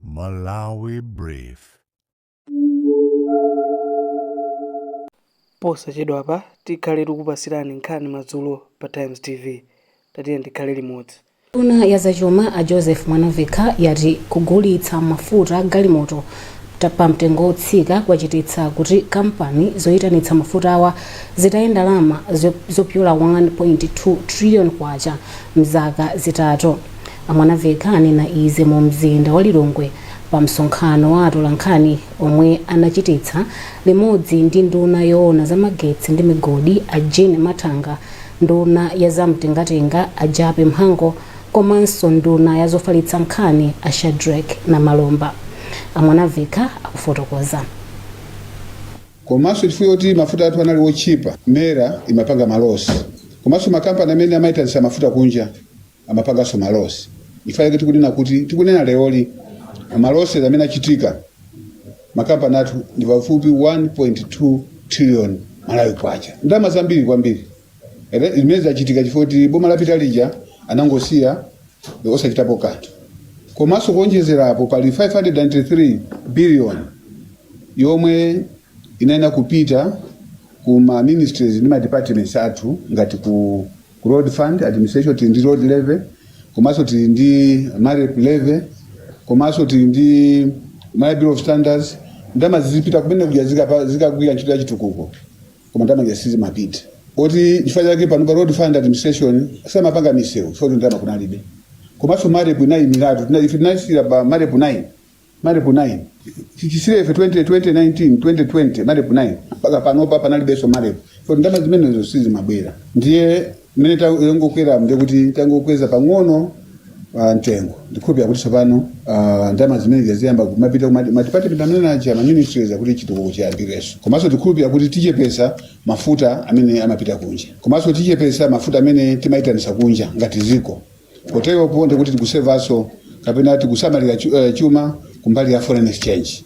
Malawi Brief. Posachedwapa tikhale tikupatsirani nkhani madzulo pa Times TV. Tatiyeni tikhale limodzi. Nduna ya zachuma a Joseph Mwanavekha yati kugulitsa mafuta a galimoto ta- pa mtengo wotsika kwachititsa kuti kampani zoyitanitsa mafutawa zitaye ndalama zo- zopyola 1.2 trillion kwacha mzaka zitatu. A Mwanaveka anena izi mu mzinda wa Lilongwe pa msonkhano wa atolankhani omwe anachititsa limodzi ndi nduna yoona za magetsi ndi migodi a Jean Mathanga, nduna ya za mtengatenga a Jappie Mhango komanso nduna ya zofalitsa nkhani a Shadric Namalomba. A Mwanaveka akufotokoza. komanso chifukwa choti mafuta athu anali otchipa, mera imapanga malosi komanso makampani amene amaitanitsa mafuta kunja amapanganso malosi chifukwa chake tikunena kuti tikunena leroli malosi amene achitika m'makampani athu ndi pafupi 1.2 trillion malawi kwacha ndalama zambiri kwambiri Ere- zimene zachitika chifukwa kuti boma lapita lija anangosiya osachitapo kanthu komanso kuonjezera apo pali 593 billion yomwe inayenera kupita ku ma ministries ndi ma departments athu ngati ku Ku road fund administration tili ndi road levy komanso tili ndi marep levy komanso tili ndi Malawi Bureau of Standards. Ndalama zizipita kumene kuja zikapa- zikagwira ntchito ya chitukuko koma ndalama zija sizimapita. N'chifukwa chake pano pa road fund administration samapanga misewu chifukwa kuti ndalama kunalibe komanso marep inayimiratu Tina- ife tinasiyira pa marep 9 Marep 9. Chisiyireni ife 2020 19 2020 Marep 9. Mpaka panopa panalibenso Marep. So ndama zimenezo sizimabwera. Ndiye mmene tangokwera ndiye kuti tangokweza pang'ono ah, mtengo. Ndikhulupira kuti tsopano ah, ndama zimenezi ziyamba kumapita kuma department amene aja ma ministries kuti chitukuko chiyambirenso. Komanso tikhulupira kuti tichepesa mafuta amene amapita kunja. Komanso tichepesa mafuta amene timaitanitsa kunja ngati dziko. Poteropo ndikuti tikusevanso kapena tikusamalira chu- eh, chuma kumbali ya foreign exchange.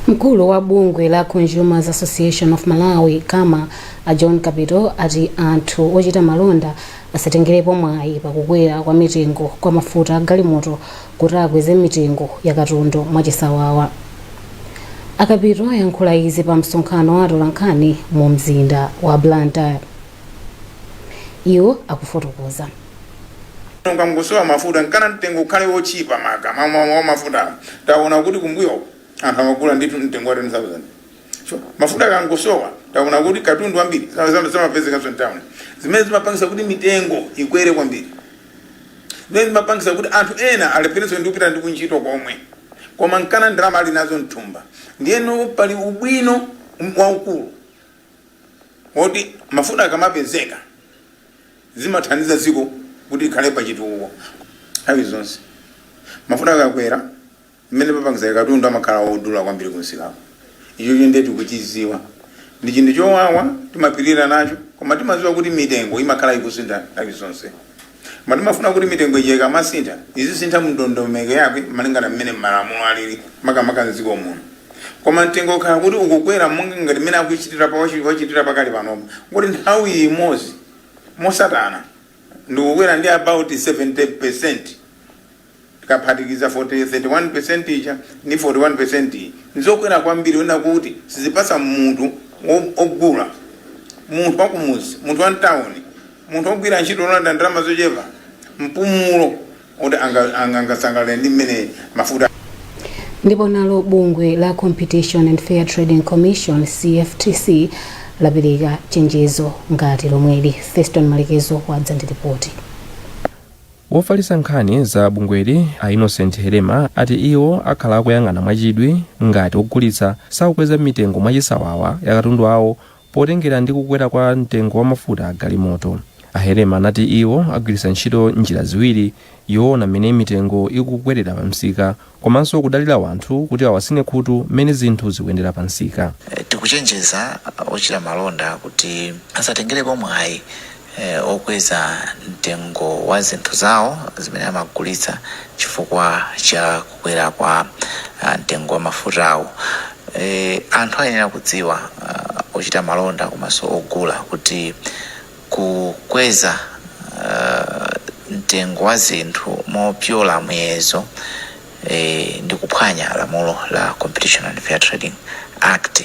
mkulu wa bungwe la consumers association of malawi kama a john kapito ati anthu ochita malonda asatengerepo mwayi pakukwera kwa mitengo ya mafuta a galimoto kuti akweze mitengo ya katundu mwachisawawa a kapito ayankhula izi pa msonkhano wa atolankhani mu mzinda wa blantyre iwo akufotokoza Nanga nkusowa mafuta nkana mtengo ukhale wochipa makamaka mafuta taona kuti kumbuyo anthu amagula ndithu mtengo wa 10000 so mafuta akangosowa taona kuti katundu wambiri samapezekanso mtown zimene zimapangisa kuti mitengo ikwere kwambiri zimene zimapangisa kuti anthu ena alepherenso ndi kupita ndi kuntchito komwe koma nkana ndalama ali nazo mthumba ndiyeno pali ubwino waukulu oti mafuta akamapezeka zimathandiza dziko kuti likhale pa chitukuko nthawi zonse. Mafuta akakwera, zimene zimapangitsa katundu amakhala odula kwambiri kumsikako. Ichocho ndiye tikuchidziwa Ndi chinthu chowawa, timapirira nacho, koma timadziwa kuti mitengo imakhala ikusintha nthawi zonse. Koma timafuna kuti mitengo ija ikamasintha, izisintha mundondomeko yake malingana mmene malamulo alili makamaka m'dziko muno. Koma mtengo ukakhala kuti ukukwera monga ngati mmene akuchitira achitira pakali panopa moti nthawi imodzi motsatana ndikukwera ndi about 70%. Tikaphatikiza 31% ija ndi 41% iyi, ndizokwera kwambiri onena kuti sizipatsa munthu ogula, munthu wakumudzi, munthu wa mtauni, munthu ogwira ntchito yolandira ndalama zochepa mpumulo oti angasangalale ndi mmene mafuta. Ndipo nalo bungwe la Competition and Fair Trading Commission, CFTC, lapereka chenjezo ngati lomweli. Feston Malekezo wadza ndi lipoti. Wofalitsa nkhani za bungweli a Innocent Helema ati iwo akhala akuyang'ana mwachidwi ngati ogulitsa sakukweza mitengo mwachisawawa ya katundu awo potengera ndi kukwera kwa mtengo wa mafuta a galimoto. A Helema anati iwo agwiritsa ntchito njira ziwiri yoona mmene mitengo ikukwerera pamsika komanso kudalira wanthu kuti awatsine khutu mmene zinthu zikuyendera pa msika. Tikuchenjeza ochita malonda kuti asatengerepo mwayi okweza mtengo wa zinthu zawo zimene amagulitsa chifukwa cha kukwera kwa mtengo wa mafutawu. Anthu ayenera kudziwa, ochita malonda komanso ogula, kuti. Kukweza mtengo wa zinthu mopyola muyezo ndi kuphwanya lamulo la Competition and Fair Trading Act.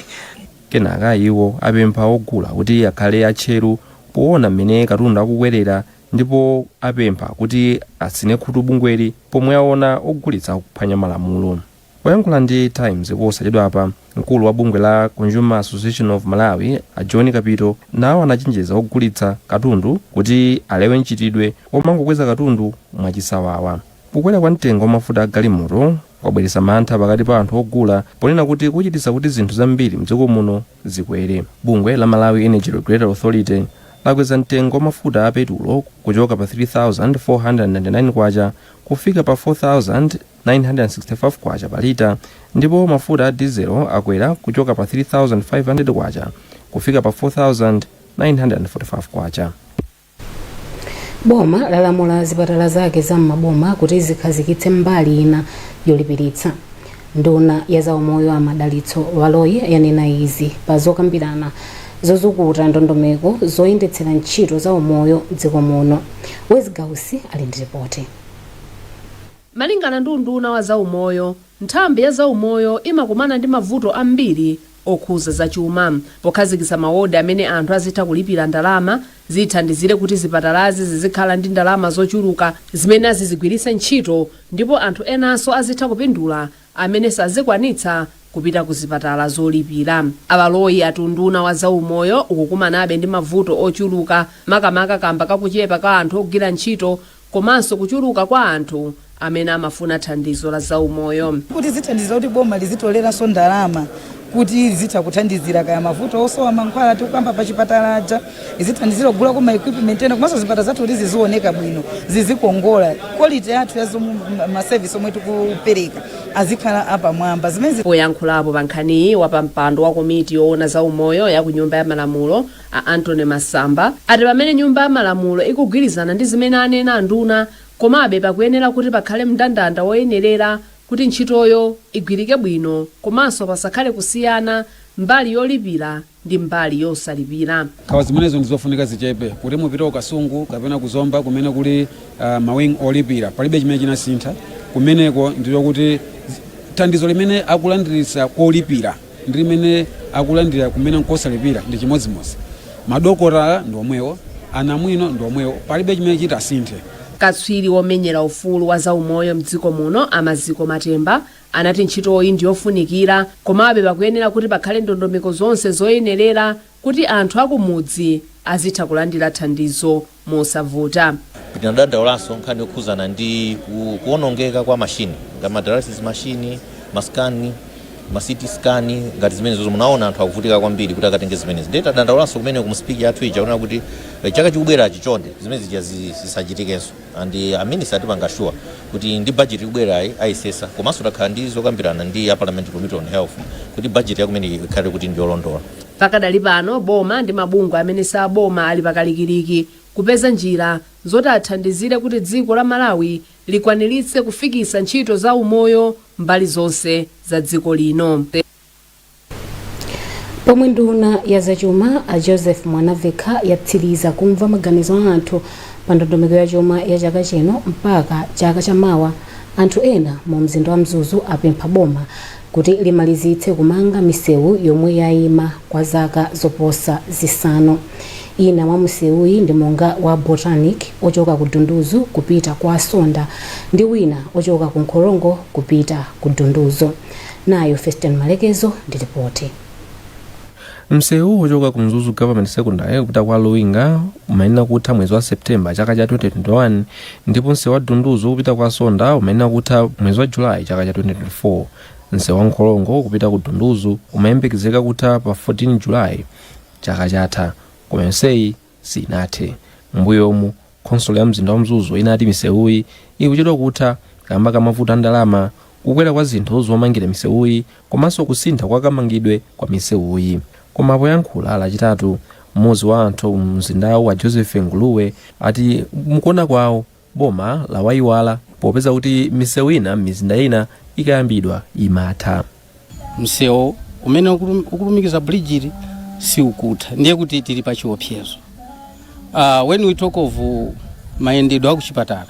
Kenaka iwo apempha ogula kuti akhale atcheru poona m'mene katundu akukwerera ndipo apempha kuti atsine khutu bungweli pomwe aona ogulitsa akuphwanya malamulo. Poyankhula ndi Times posachedwapa, mkulu wa bungwe la Consumer Association of Malawi a John Kapito nawo anachenjeza ogulitsa katundu kuti alewe mchitidwe womangokweza katundu mwachisawawa. Kukwera kwa mtengo wa mafuta a galimoto kwabweretsa mantha pakati pa anthu ogula ponena kuti kuchititsa kuti zinthu zambiri mdziko muno zikwere. Bungwe la Malawi Energy Regulatory Authority lakweza mtengo wa mafuta a petulo kuchoka pa K3,499 kufika pa K4,000 965 pa lita ndipo mafuta a dizelo akwera kuchoka pa K3,500 kufika pa K4,945. Boma lalamula zipatala zake za m'maboma kuti zikhazikitse mbali ina yolipiritsa. Nduna ya zaumoyo a Madalitso Baloyi yanena izi pa zokambirana zozukuta ndondomeko zoyendetsera ntchito zaumoyo m'dziko muno. Wezzie Gausi ali ndi ripoti. Malingana ndi unduna wa za umoyo, nthambi ya za umoyo imakumana ndi mavuto ambiri okhudza za chuma. Pokhazikitsa ma wodi amene anthu azitha kulipira ndalama, zithandizire kuti zipatalazi zizikhala ndi ndalama zochuluka zimene azizigwiritsa ntchito ndipo anthu enanso azitha kupindula amene sazikwanitsa kupita ku zipatala zolipira. A Baloyi ati unduna wa za umoyo ukukumanabe ndi mavuto ochuluka makamaka kamba ka kuchepa kwa anthu ogwira ntchito komanso kuchuluka kwa anthu amene amafuna thandizo la zaumoyo. Kuti zithandizira kuti boma lizitoleranso ndalama kuti lizitha kuthandizira kaya mavuto osowa mankhwala tikukamba pa chipatala aja, izithandizira kugulako ma equipment ena komanso zipatala zathu kuti zizioneka bwino, zizikongola, quality yathu ya zomwe ma service omwe tikupereka azikhala apamwamba. Zimenezi. Poyankhulapo pa nkhaniyi, wapampando wa komiti yoona zaumoyo ya ku Nyumba ya Malamulo, A Anthony Masamba ati pamene nyumba ya malamulo ikugwirizana ndi zimene anena anduna, komabe pakuyenera kuti pakhale mndandanda woyenerera kuti ntchitoyo igwirike bwino komanso pasakhale kusiyana mbali yolipira ndi mbali yosalipira. Nkhawa zimenezo ndi zofunika zichepe. Kuti mupite ku Kasungu kapena ku Zomba kumene kuli ma wing olipira, palibe chimene chinasintha kumeneko ndipo kuti thandizo limene akulandiritsa kolipira, ndi limene akulandira kumene nkosalipira ndi chimodzimodzi madokotala ndi omwewo anamwino ndi omwewo palibe chimene chitasinthe katswiri womenyera ufulu wa zaumoyo mdziko muno a Maziko Matemba anati ntchitoyi ndi yofunikira komabe pakuyenera kuti pakhale ndondomeko zonse zoyenerera kuti anthu akumudzi azitha kulandira thandizo mosavuta. Tinadandaulaso nkhani yokhuzana ndi kuonongeka kwa machine ngati ma dialysis machine, ma scan, ma CT scan ngati zimenezo munaona anthu akuvutika kwambiri kuti akatenge zimenezi. Ndiye tadandaulaso kumene mu speech yathu ija kunena kuti eh, chaka chikubwerachi chonde zimene zija zi- zisachitikenso and eh, a minister atipanga assure kuti ndi budget ikubwerayi ayesesa komanso takhala ndi zokambirana ndi a parliament committee on health kuti budget yakumene ikhale kuti ndi yolondola. Pakadali pano boma ndi mabungwe amene si aboma ali pa kalikiliki kupeza njira zoti athandizire kuti dziko la Malawi likwaniritse kufikitsa ntchito za umoyo mbali zonse za dziko lino. Pomwe nduna ya zachuma a Joseph Mwanavekha yatsiliza kumva maganizo a anthu pa ndondomeko ya chuma ya chaka chino mpaka chaka cha mawa, anthu ena mu mzinda wa Mzuzu apempha boma kuti limalizitse kumanga misewu yomwe yaima kwa zaka zoposa zisanu. Ina mwa misewuyi ndi monga wa Botanic ochoka ku Dunduzu kupita kwa Sonda ndi wina ochoka ku Nkhorongo kupita ku Dunduzu. Nayo Feston Malekezo ndi lipoti. Msewu wochoka ku Mzuzu Government Secondary kupita kwa Luwinga umayenera kutha mwezi wa September chaka cha 2021 ndipo msewu wa Dunduzu kupita kwa Sonda umayenera kutha mwezi wa July chaka cha 2024. Msewu wa Nkhorongo kupita ku Dunduzu umayembekezeka kutha pa 14 July chaka chatha. Koma yonseyi siinathe. Mmbuyomu, khonsolo ya mzinda wa Mzuzu inati misewuyi ikuchedwa kutha kamba ka mavuto a ndalama, kukwera kwa zinthu zomangira misewuyi komanso kusintha kwa kamangidwe kwa misewuyi. Koma poyankhula Lachitatu, mmodzi mwa anthu mu mzindawu a Joseph Nguluwe ati mukuona kwawo, Boma lawaiwala popeza kuti misewu ina m'mizinda ina ikayambidwa imatha. msewu umene ukulu- ukulumikiza bridge iyi sukutha ndiye kuti tili pa chiopsezo uh, when we talk of uh, mayendedwe a kuchipatala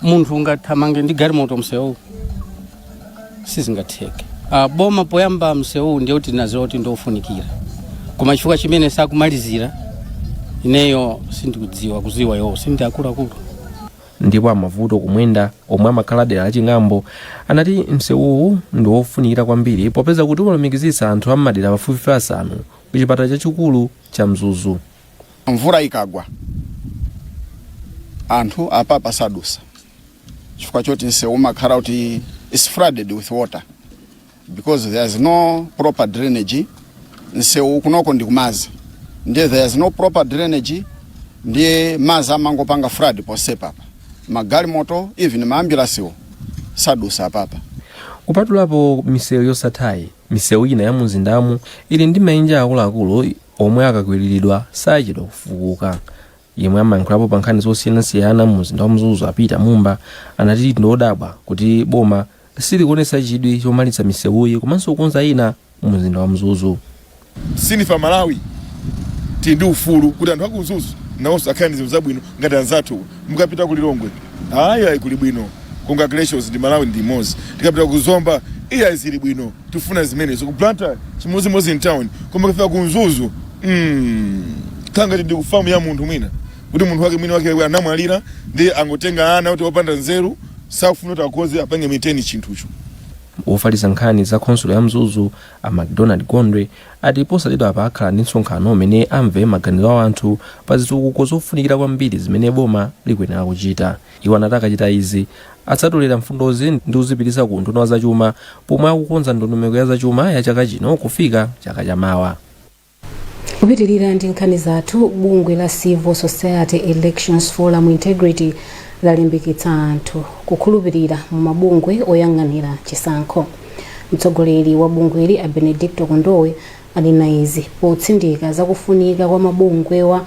munthu ungathamange ndi galimoto msewu sizingatheke uh, boma poyamba msewuwu ndiye kuti linaziwa kuti ndiofunikira koma chifukwa chimene sakumalizira ineyo sindikudziwa akuziwa iwowo si ndi akuluakulu ndipo a mavuto kumwenda omwe amakhala dera la ching'ambo anati msewuwu ndi wofunikira kwambiri popeza kuti umalumikizitsa anthu a m'madera pafupifupi asanu ku chipatala chachikulu cha mzuzu mvula ikagwa anthu apapa sadusa chifukwa choti nsewu umakhala kuti is flooded with water because there is no proper drainage nsewu kunoko ndi kumazi ndiye there is no proper drainage ndiye mazi amangopanga flood posepapa magalimoto even maambulansiwo sadusa apapa kupatulapo misewu yosathayi misewu ina ya mumzindamu ili ndi maenje akuluakulu Omwe akakwiliridwa sachedwa kufukuka. Yemwe amayankhulapo pa nkhani zosiyanasiyana mu mzinda wa Mzuzu a Peter Mumba anati ndi odabwa kuti boma silikuonetsa chidwi chomalitsa misewuyi komanso kukonza ina mu mzinda wa Mzuzu. Si ife a Malawi tili ndi ufulu kuti anthu aku Mzuzu nawonso akhale ndi zinthu zabwino ngati anzathu. mukapita ku lilongwe ayi ayi kuli bwino congratulations ndi malawi ndi imodzi tikapita ku zomba iya zili bwino tifuna zimenezo ku blantyre chimodzimodzi in town koma kufika ku mzuzu mm, kangati ndi kufamu ya munthu mwina kuti munthu wake mwini wake anamwalira ndi angotenga ana oti opanda nzeru sakufuna kuti akonze apange maintain chinthucho wofalitsa nkhani za khonsolo ya mzuzu a macdonald gondwe ati posachedwapa akhala ndi msonkhano umene amve maganizo a anthu pa zitukuko zofunikira kwambiri zimene boma likuyenera kuchita. Iwo anati akachita izi, adzatolera mfundozi ndi kuzipitisa ku unduna wa zachuma pomwe akukonza ndondomeko ya zachuma ya chaka chino kufika chaka cha mawa. Kupitilira ndi nkhani zathu, bungwe la Civil Society Elections Forum Integrity lalimbikitsa anthu kukhulupilira mu mabungwe oyang'anira chisankho. Mtsogoleri wa bungweli a Benedicto Kondowe anena izi potsindika za kufunika kwa mabungwewa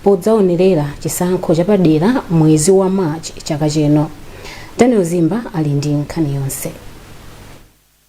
podzaonerera chisankho chapadera mwezi wa March chaka chino. Daniel Zimba ali ndi nkhani yonse.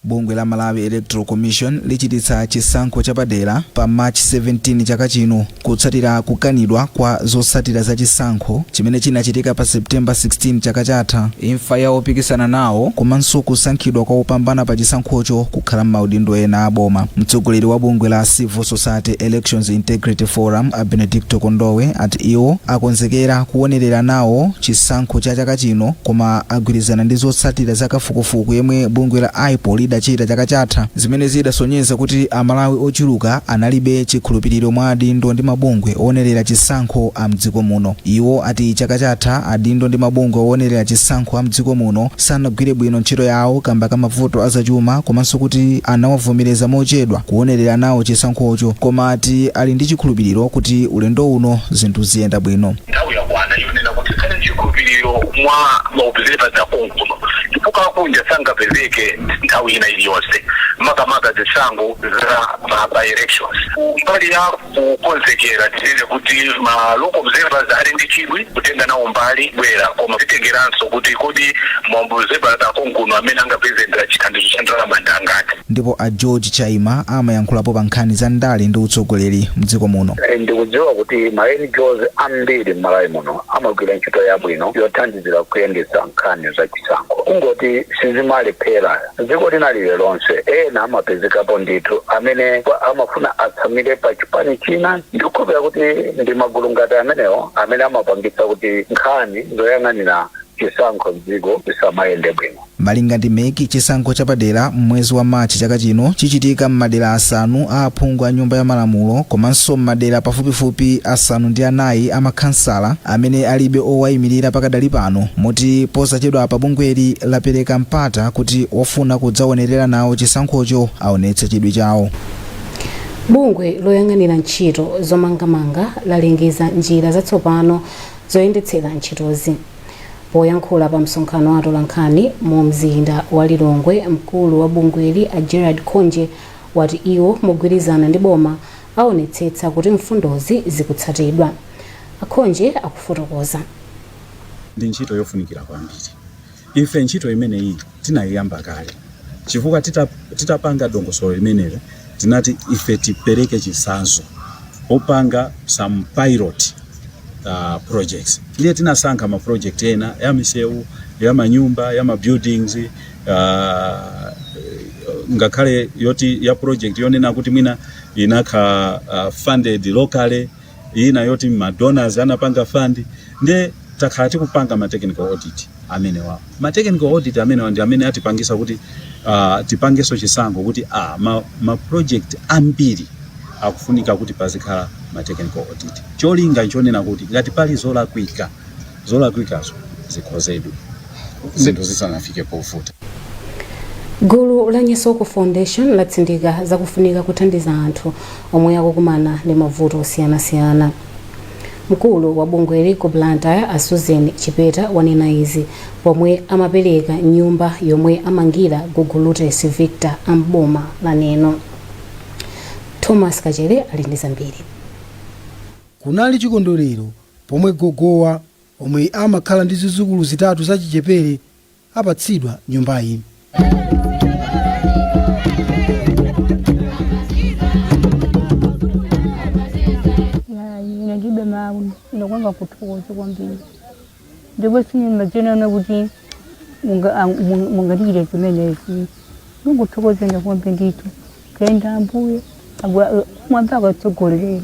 Bungwe la Malawi Electoral Commission lichititsa chisankho chapadera pa March 17 chaka chino. Kutsatira kukanidwa kwa zotsatira za chisankho chimene chinachitika pa September 16 chaka chatha, imfa ya opikisana nawo komanso kusankhidwa kwa opambana pa chisankhocho kukhala m'maudindo ena a boma, mtsogoleri wa bungwe la Civil Society Elections Integrity Forum a Benedicto Kondowe ati iwo akonzekera kuwonerera nawo chisankho cha chaka chino koma agwirizana ndi zotsatira za kafukufuku yemwe bungwe la IPOR lidachita chaka chatha. zimene zidasonyeza kuti Amalawi ochuluka analibe chikhulupiriro mwa adindo ndi mabungwe oonerera chisankho a m'dziko muno. Iwo ati chaka chatha adindo ndi mabungwe oonerera chisankho a m'dziko muno sanagwire bwino ntchito yawo kamba ka mavuto a zachuma komanso kuti anawavomereza mochedwa kuonerera nawo chisankhocho koma ati ali ndi chikhulupiriro kuti ulendo uno zinthu ziyenda bwino. Nthawi yakwana yonena kuti tikhale ndi chikhulupiriro mwa ma observers a konkuno. chifukwa akunja sangapezeke nthawi ina iliyonse makamaka zisankho za ma by elections. Kumbali ya kukonzekera tinene kuti ma local observers ali ndi chidwi kutenga nawo mbali kubwera koma zitengeranso kuti kodi ma observers akonkuno amene angapeze chithandizo cha ndalama ndi angati. Ndipo a George Chaima amayankhulapo pa nkhani za ndale ndi utsogoleri mdziko muno. Ndikudziwa kuti ma NGOs ambiri m'Malawi muno amagwira ntchito yabwino yothandizira kuyendetsa nkhani za chisankho. Kungoti sizimalephera. M'dziko lina lililonse ena amapezekapo ndithu amene amafuna atsamire pa chipani china. Ndikukhulupirira kuti ndi magulu ngati amenewo amene amapangitsa kuti nkhani zoyang'anira chisankho m'dziko zisamayende bwino. Malinga ndi MEC, chisankho chapadera m'mwezi wa March chaka chino chichitika m'madera asanu a aphungu a Nyumba ya Malamulo komanso m'madera pafupifupi asanu ndi anayi a makhansala amene alibe owayimirira pakadali pano moti posachedwapa bungweli lapereka mpata kuti ofuna kudzawonerera nawo chisankhocho aonetse chidwi chawo. Bungwe loyang'anira ntchito zomangamanga lalengeza njira zatsopano zoyendetsera ntchitozi. Poyankhula pa msonkhano wa atolankhani mu mzinda wa Lilongwe, mkulu wa bungweli a Gerald Khonje wati iwo mogwirizana ndi boma aonetsetsa kuti mfundozi zikutsatidwa. A Khonje akufotokoza. Ndi ntchito yofunikira kwambiri. Ife ntchito imeneyi tinayiyamba kale chifukwa tita, titapanga dongosolo limenelo tinati ife tipereke chitsanzo popanga some pilot uh, projects ndiye tinasankha ma project ena ya misewu ya manyumba ya ma buildings uh, ngakhale yoti ya project yonena kuti mwina inakhala uh, funded locally ina yoti ma donors anapanga fund nde takhala tikupanga ma technical audit amenewawo ma technical audit amenewawo ndi amene atipangisa kuti uh, tipangeso chisankho kuti ah, ma, ma project ambiri akufunika kuti pazikhala ma technical audit cholinga nchonena kuti ngati pali zolakwika zolakwikazo zikonzedwe zinthu zisanafike povuta. Gulu la Nyesoko Foundation latsindika zakufunika kuthandiza anthu omwe akukumana ndi mavuto osiyanasiyana. Mkulu wa bungweli ku Blantyre a Susan Chipeta wanena izi pomwe amapereka nyumba yomwe amangira Gogo Lutes Victor a m'boma la Neno. Thomas Kachere ali ndi zambiri. Kunali chikondwerero pomwe gogowa omwe amakhala ndi zizukulu zitatu zachichepere apatsidwa nyumbayi. ine ndilibe mawu ndakuamba kuthokoza kwambiri ndipo sindimadziwanso kuti munga- ang- mung- mungandichitire zimenezi ndikuthokozani kwambiri ndithu kenda ambuye m'mwamba akutsogolereni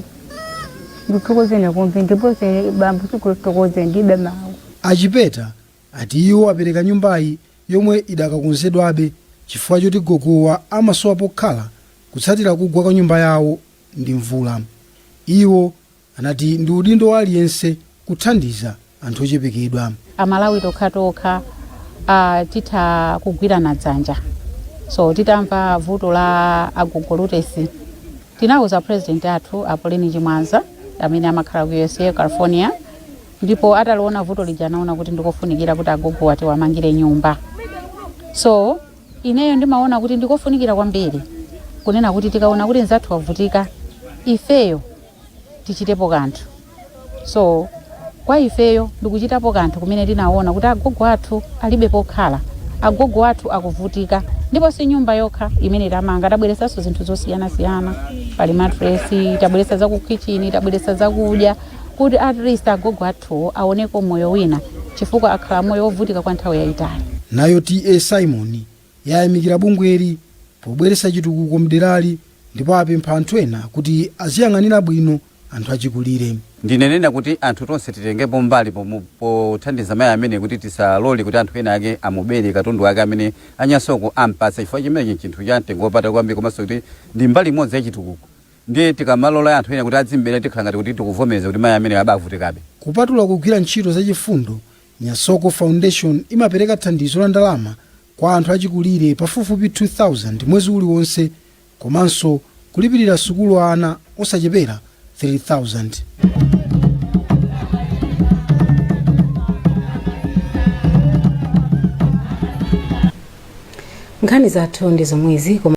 ndikuthokozeni kwambiri ndiponso bambo tikuthokoze ndilibe mawu a Chipeta ati iwo apereka nyumbayi yomwe idakakonzedwabe chifukwa choti gogowa amasowa pokhala kutsatira kugwa kwa nyumba yawo ndi mvula iwo anati ndi udindo wa aliyense kuthandiza anthu ochepekedwa. amalawi tokhatokha titha kugwirana dzanja so titamva vuto la agogo lutesi tinauza president athu Pauline Chimwaza amene amakhala ku usa california ndipo ataliona vuto lija anaona kuti ndikofunikira kuti agogowa tiwamangire nyumba so ineyo ndimaona kuti ndikofunikira kwambiri kunena kuti tikaona kuti mzathu wavutika ifeyo tichitepo kanthu so kwa ifeyo ndikuchitapo kanthu kumene tinaona kuti agogo athu alibe pokhala agogo athu akuvutika ndipo si nyumba yokha imene tamanga tabweresanso zinthu zosiyanasiyana pali matresi tabweresa za ku kitchen tabweresa zakudya kuti at least agogo athuwo aoneko moyo wina chifukwa akhala moyo wovutika kwa nthawi yayitali Nayo TA Simon yayamikira bungweli pobweretsa chitukuko mderali ndipo apempha anthu ena kuti aziyang'anira bwino anthu achikulire. Ndinenena kuti anthu tonse titengepo mbali pothandiza mayi amene kuti tisalole kuti anthu ena ake amubere katundu wake amene a Nyasoko ampatsa chifukwa chimenechi chinthu cha mtengo wapatali kwambiri komanso kuti ndi mbali imodzi ya chitukuko ndiye tikamalola anthu ena kuti adzimbere tikhala ngati kuti tikuvomereza kuti mayi amene apavutikabe Kupatula kugwira ntchito zachifundo, Nyasoko Foundation imapereka thandizo la ndalama kwa anthu achikulire pafupifupi 2,000 mwezi uliwonse komanso kulipirira sukulu ana osachepera 3,000. nkhani zathu ndi zomwezi koma